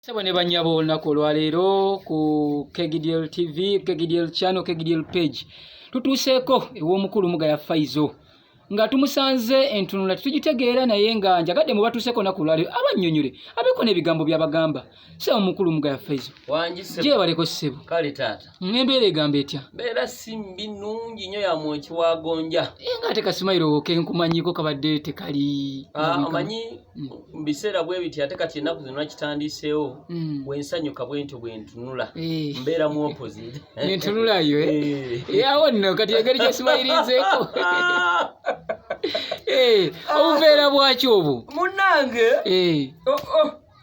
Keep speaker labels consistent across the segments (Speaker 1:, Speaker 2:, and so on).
Speaker 1: Sebo ne banyabo olunaku olwaleero ku KGDL TV, KGDL channel, KGDL page tutuuseeko ew'omukulu Mugaya Faizo nga tumusanze entunula tetugitegeera naye nga njagadde mu batuuseeko naku olwaleero abannyonnyole abeeko n'ebigambo byabagamba sebo mukulu Mugaya Faizo gyebaleko
Speaker 2: ssebo
Speaker 1: kale taata
Speaker 2: Ng'embeera egamba etya?
Speaker 1: Mbeera si mbi
Speaker 2: nnungi nnyo ya mwoki wa gonja. Eh, nga ate kasimayiro
Speaker 1: ke nkumanyiiko kabadde tekali ah, omanyi
Speaker 2: mm. mu biseera bwe biti ate kati ennaku zino nakitandiiseewo mm. bwe nsanyuka bwe ntyo bwe ntunula eh. mbeera mu opposite ne ntunulayo
Speaker 1: eh? awo nno kati engeri gyesimayiriizeeko obuveera bwaki obwo munnange oh,
Speaker 2: oh.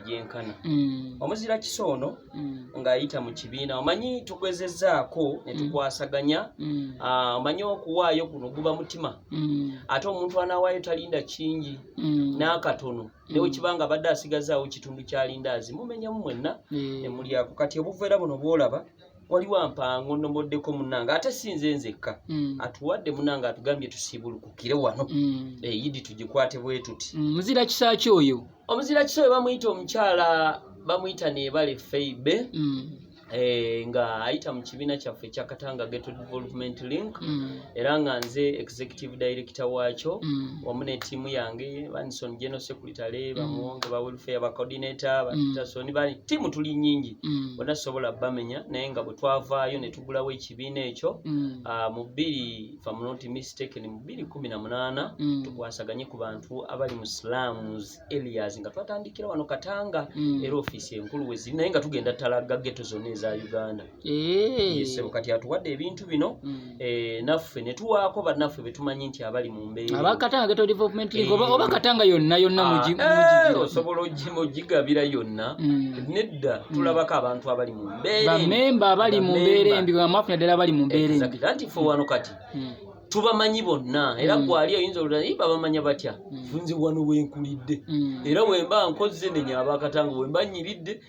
Speaker 2: gyenkana mm. omuzira kisa ono mm. ng'ayita mu kibiina omanyi tugezezzaako ne mm. tukwasaganya ah, omanyi okuwaayo kuno guba mutima ate omuntu anawaayo talinda kingi n'akatono newe kiba nga abadde asigazaawo kitundu kyalinda azi mumenyamu mwenna emulyako kati obuveera buno bwolaba waliwo ampango nomoddeko munange ate sinze nzekka mm. atuwadde munange atugambye tusiibulukukire wano mm. eyidi eh, tugikwate bwetuti mm, muzira kisaki
Speaker 1: oyo omuzira kiso we bamuyita
Speaker 2: omukyala bamuyita nebale feibe mm. Eh, nga ayita mu kibiina kyaffe ekya katanga geto development link mm. era nga nze executive director waakyo mm. wamu netiimu yange banison general secretary mm. bamuwonge ba welfare ba coordinator batason mm. bani tiimu tuli nyingi mm. bona sobola bamenya naye nga bwe twavaayo ne tugulawo ekibiina ekyo mm. uh, mu bbiri mm. tukwasaganye ku bantu abali mu slams areas nga twatandikira wano katanga mm. era ofiisi enkulu weziri naye nga tugenda talagga geto zonna eza uganda eh. yesebo kati atuwadde ebintu bino mm. eh, naffe netuwaako bannaffe betumanyi nti abali mu mbeeraabakatanga geto development
Speaker 1: eh. oba katanga yonna yonna ah, osobola
Speaker 2: ogigabira yonna nedda tulabako abantu abali bamemba abali mu
Speaker 1: mbeera embi bamafu naddala abali mu mbeera embi anti ffe wano kati
Speaker 2: hmm. tubamanyi bonna era hmm. gwali oyinza olulanaye babamanya batya hmm. nze wano wenkulidde era wemba nkozze nenya abakatanga wemba nyiridde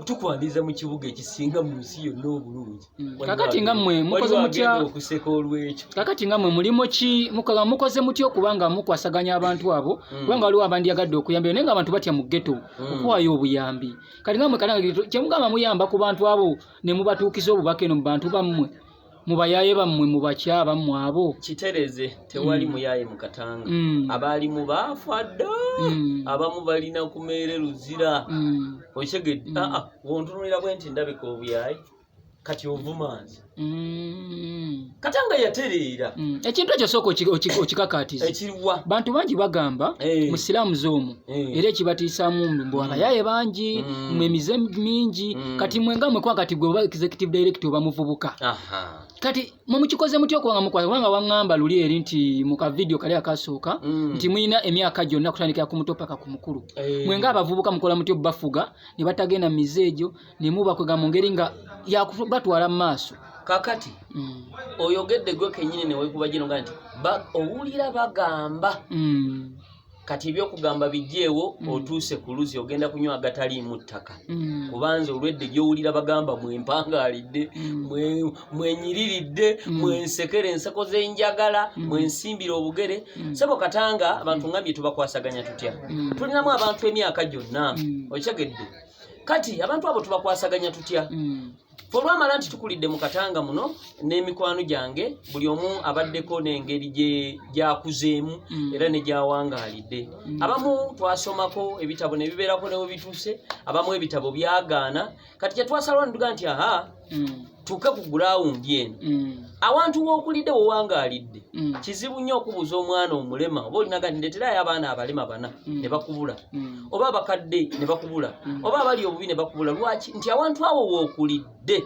Speaker 2: tukwaniriza mu kibuga ekisinga mu nsi yonna obulungi kakati nga mwe
Speaker 1: mukoze mutya okuseka olwekyo
Speaker 2: kakati nga mwe mulimu
Speaker 1: ki mukola mukoze mutya okuba nga mukwasaganya abantu abo kubanga waliwo abandyagadde okuyambira naye nga abantu batya mu ghetto okuwayo obuyambi kati nga mwe kalangirire tu- kyemugamba muyamba ku bantu abo ne mubatuukiza obubaka eno mu bantu bammwe mu bayaaye bammwe mu bakya bammwe abo kitereze
Speaker 2: tewali Mm. muyaye mu katanga Mm. abaali mu baafa dda Mm. abamu balina ku meere luzira Mm. okitegedde Mm. aa wontunulira bwe nti ndabika obuyaye kati ovuma nze mm. kata nga yatereera mm. ekintu ekyo sooka
Speaker 1: okikakaatiza ekiriwa bantu
Speaker 2: bangi bagamba
Speaker 1: hey. Eh. musiraamu zoomu hey. Eh. era ekibatiisaamu mbwalayaye mm. bangi mm. mwe mize mingi mm. kati mwe nga mwekwa kati gwe oba executive direct oba muvubuka kati mwe mukikoze muty okubanga mukwasa kubanga waŋŋamba luli eri nti mu kavidiyo kali akasooka mm. nti mulina emyaka gyonna kutandikira ku muto paka ku mukulu hey. Eh. mwe nga abavubuka mukola muty obubafuga ne batagenda mu mize egyo ne mubakwega mu ngeri nga yakubatwala mu maaso kakati
Speaker 2: mm. oyogedde gwe kenyini newekuba gino nga nti owulira bagamba mm. kati ebyokugamba bijeewo mm. otuuse ku luzi ogenda kunywa agataliimu ttaka mm. kubanze olwedde gyowulira bagamba mwempangaalidde mm. mwenyiriridde mm. mwensekera enseko zenjagala mm. mwensimbira obugere mm. sebo katanga abantu mm. ngambye tubakwasaganya tutya mm. tulinamu abantu emyaka gyonna mm. okitegedde kati abantu abo tubakwasaganya tutya mm. fe olwamala nti tukulidde mu katanga muno n'emikwano gyange buli omu abaddeko n'engeri gyakuzeemu mm. era ne gyawangaalidde mm. abamu twasomako ebitabo ne bibeerako newe bituuse abamu ebitabo byagaana kati kyetwasalawo netuga nti aha tuuke ku gulawundi eno mm. awantu wookulidde wowangaalidde mm. kizibu nnyo okubuuza omwana omulema oba olinaga ndeterayo abaana abalema bana mm. ne bakubula oba abakadde ne bakubula oba abali obubi ne bakubula lwaki nti awantu awo wookulidde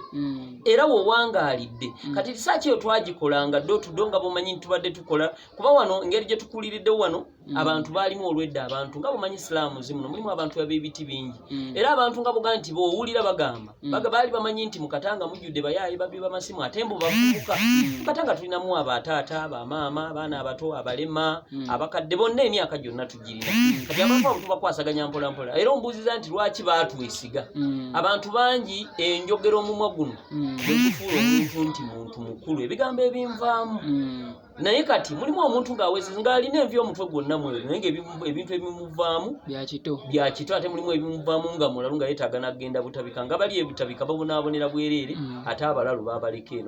Speaker 2: era wowangaalidde kati risaaki eyo twagikolanga dootudo nga bomanyi nti tubadde tukola kuba wano engeri gye tukuliriddewo wano Mm. abantu baalimu olwedda abantu nga bumanyi isilaamu zimuno mulimu abantu abebiti bingi mm. era abantu nga buga nti bowulira bagamba mm. baali bamanyi nti mukatanga mujjudde bayaayi babbi bamasimu ate mbu bavubuka mukatanga tulinamu abataata bamaama abaana abato abalema abakadde bonna emyaka gyonna tugirina kati abantu abo tubakwasaganya mpolampola era ombuuziza nti lwaki baatwesiga abantu bangi enjogera omumwa guno egufuula omuntu nti muntu mukulu ebigambo ebinvaamu naye kati mulimu omuntu ng'awesi ng'alina envi omutwe gwonna mweru naye ngaebintu ebimuvaamu byakito byakito ate mulimu ebimuvaamu nga mulalu nga yetaaga nagenda butabika nga bali ebitabika babonaabonera bwereere mm. ate abalalu babaleka eno